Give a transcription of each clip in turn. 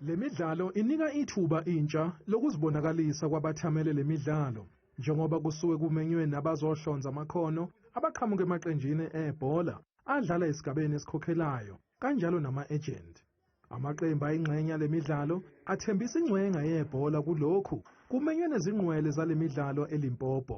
Le midlalo inika ithuba intsha lokuzibonakalisa kwabathamele le midlalo njengoba kusuke kumenywe nabazohlonza amakhono abaqhamuka emaqenjini ebhola adlala esigabeni esikhokhelayo kanjalo nama-ejenti. Amaqembu ayingxenye yale midlalo athembisa ingcwenga yebhola kulokhu kumenywe nezingqwele zale midlalo eLimpopo.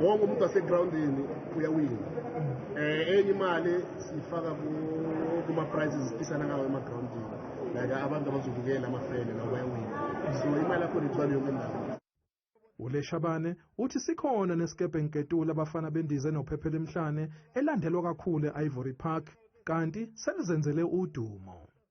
wonke umuntu wasegroundini uyawina um enye imali siyifaka kuma-prices siphikisana ngawo emagroundini like abantu abazobukela amafele nabo bayawina so imali yakhona ithwala yonke ndawo uleshabane uthi sikhona nesikebhe nketula abafana bendize nophephela emhlane elandelwa kakhulu e-ivory park kanti selizenzele udumo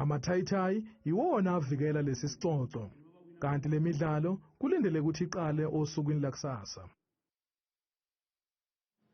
Amathayithayi iwona avikela lesi sicoco kanti le midlalo kulindele ukuthi iqale osukwini lakusasa.